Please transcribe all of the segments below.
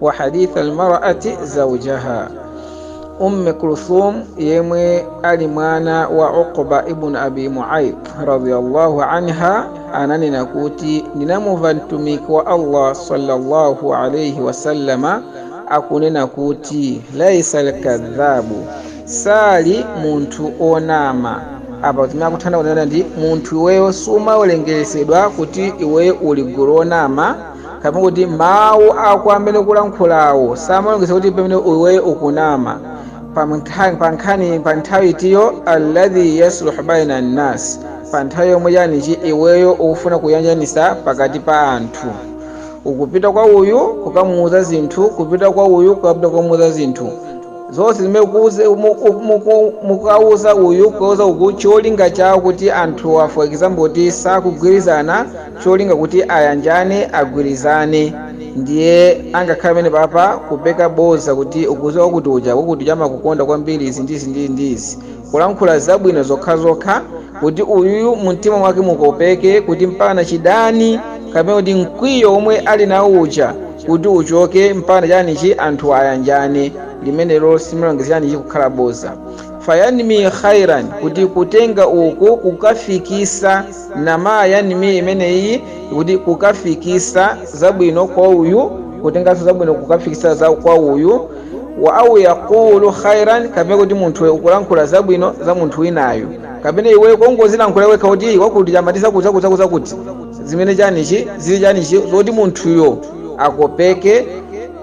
wa hadith almar'ati zawjaha umme kulthum yemwe ali mwana wa uqba ibn abi mu'ayt radiyallahu anha ananena kuti ndinamumva mtumiki wa allah sallallahu alayhi wasallama akunena kuti laisa alkadhabu sali munthu onama apa timene akuthandauza kunena ndi munthu iweyo sumawerengetsedwa kuti iweyo uli gulu onama kapena kuti mawu ako amene ukulankhulawo samawerengetsa kuti pamene iweyo ukunama pa nkha- pa nkhani pa nthawi itiyo alladhi yasluhu baina nnas pa nthawi yomwe yanichani iweyo ukufuna kuyanjanisa pakati pa anthu ukupita kwa uyu kukamuuza zinthu kupita kwa uyu kukapita kukamuuza zinthu zonse zimene kuuze- muku- muku- mukauza uyu kuuza uku cholinga chawo kuti anthu for example kuti sakugwirizana cholinga kuti ayanjane agwirizane ndiye angakhale pamene papa kupeka boza kuti ukuziwa kuti uja wakuti chamakukonda kwambiri izi ndizi ndizi ndizi kulankhula zabwino zokhazokha kuti uyuyu mumtima mwake mukopeke kuti mpaka chidani kapena kuti mkwiyo omwe ali nawo uja kuti uchoke mpaka chanichi anthu ayanjane limenelo siliwerengedwa chanichi kukhala boza fayanmi khairan kuti kutenga uku kukafikisa Namaa yanmi imeneyi kuti kukafikisa zabwino kwa uyu kutenganso zabwino kukafikisa za kwa uyu wa au yaqulu khairan kapena kuti munthu ukulankhula zabwino za munthu winayo kapena iwe kongozilankhula wekha kuti wakuti amati zakuti zakuti zakuti zakuti zimene chanichi zili chanichi zoti munthuyo akopeke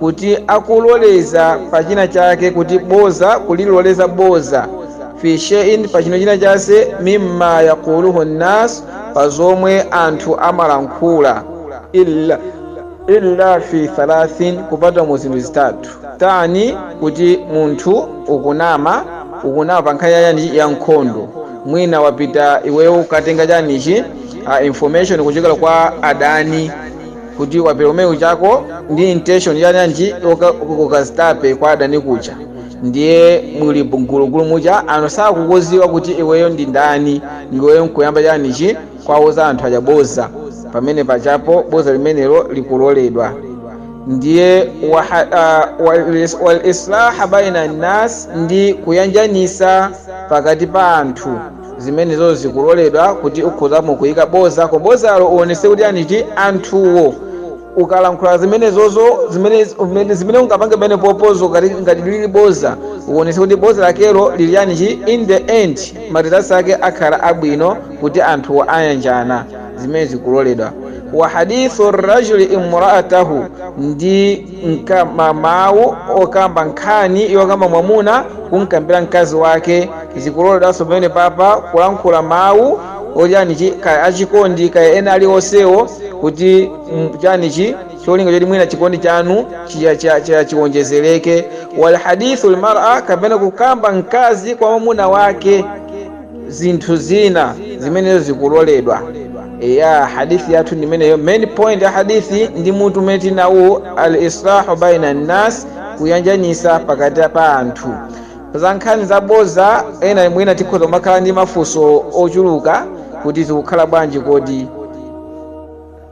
kuti akuloleza pa china chake kuti boza kuliloleza boza fi shay'in pa chino china chonse mimma yaquluhu nnas pa zomwe anthu amalankhula illa illa fi thalathin kupatula mu zinthu zitatu tani kuti munthu ukunama ukunama pa nkhani yachani ya nkhondo mwina wapita iweyo ukatenga chanichi uh, information kuchokera kwa adani kuti wapita umeneko chako ndi intention yachani ukazitape kwa adani kuja ndiye muli mgulugulu muja anthu sakukuziwa kuti iweyo ndi ndani ndiweyo nkuyamba chanichi kwauza anthu aja boza pamene pachapo boza limenelo likuloledwa ndiye wal islahi baina nnas ndi kuyanjanisa pakati pa anthu zimenezo zikuloledwa kuti ukhozamo kuyika boza koma bozalo uonese kuti chanichi anthuwo ukalankhula zimenezozo zimene zimene- zimene ungapange pamene popozo ngati ngati lili boza uonese kuti boza lakelo lili chanichi in the end ma results ake akhala abwino kuti anthuwo ayanjana zimene zikuloledwa wa hadithu rajuli imraatahu ndi nka ma mawu okamba nkhani yokamba mwamuna kumkambira mkazi wake zikuloledwanso pamene papa kulankhula mawu ochani chi kaya achikondi kaya ena aliwonsewo kuti mm, chani chi cholinga choti mwina chikondi chanu chiya- chiya- chiya- chiwonjezereke walhadithu lmara kapena kukamba mkazi kwa mwamuna wake zinthu zina zimenezo zikuloledwa ya hadithi yathu ndimeneyo main point ya hadithi ndi mutu umene tinawo al islahu baina nnas kuyanjanisa pakati pa anthu za nkhani zaboza ena mwina tikhoza makhala ndi mafunso ochuluka kuti zikukhala bwanji kodi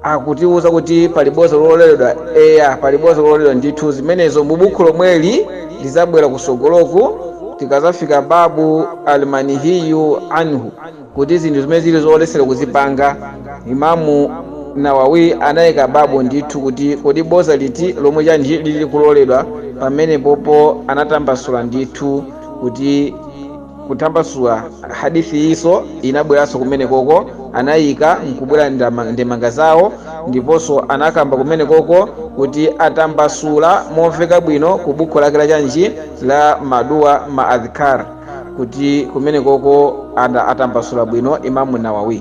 akutiwuza kuti pali boza lololedwa eya pali boza lololedwa ndithu zimenezo mu bukhu lomweli lizabwera kusogoloku tikazafika babu almanihiyu anhu kuti zinthu zimene zili zolesera kuzipanga imamu nawawi anayika babu ndithu kuti kodi boza liti lomwe chani lili kuloledwa pamene popo anatambasula ndithu kuti kutambasula Hadith iyi inabweranso kumenekoko anayika nkubwera ndama, ndemanga zawo ndiponso anakamba kumenekoko kuti atambasula momveka bwino ku bukhu lake la chanji la maduwa ma adhkaar kuti kumenekoko anatambasula bwino Imamu Nawawiy.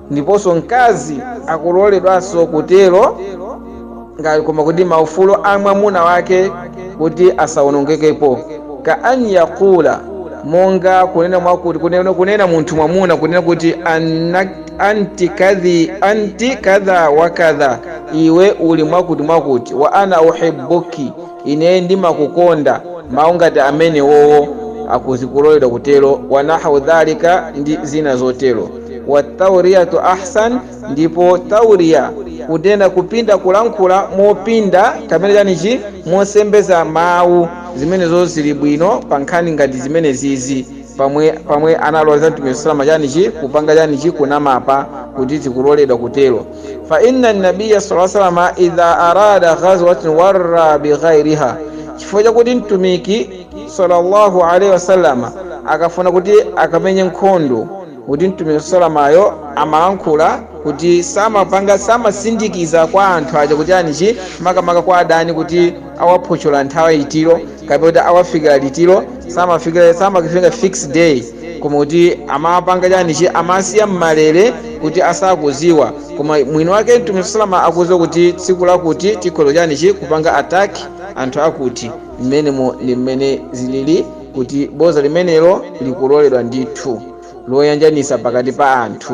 ndiponso mkazi akuloledwanso kutero koma kuti maufulu a mwamuna wake kuti asawonongekepo ka an yaqula monga kunena kunena munthu mwamuna kunena kuti anna- anti kadhi anti kadha wa kadha iwe uli mwakuti mwakuti wa ana uhibbuki Ine ndimakukonda. Mawu ngati amenewowo akuzi kuloledwa kutero, wa nahwu dhalika ndi zina zotero. Wa tawriyatu ahsan, ndipo tawriya, kutenda, kupinda kulankhula mopinda kapena chani chi, mosembeza mawu, zimenezo zili bwino pa nkhani ngati zimenezizi, pamwe, pamwe analoleza Mtumiki sallama chani chi, kupanga chani chi, kunama apa, kuti zikuloledwa kutero. fa inna nabiya sala salama idha arada ghazwatin warra bighairiha chifukwa chakuti mtumiki sallallahu alaihi wasallama akafuna kuti akamenye nkhondo kuti mtumiki salamayo amalankhula kuti samapanga samasindikiza kwa anthu aja kuti chani chi makamaka kwa adani kuti awaphochola nthawi itiro kapena kuti awafikira litiro samafikira fix day koma kuti amapanga chani chi amasiya mmalere kuti asakuziwa koma mwini wake mtume salama akuziwa kuti tsiku lakuti tikhoza chani chi kupanga attack anthu akuti mmenemo ndi mmene zilili kuti boza limenelo likuloledwa ndithu loyanjanisa pakati pa anthu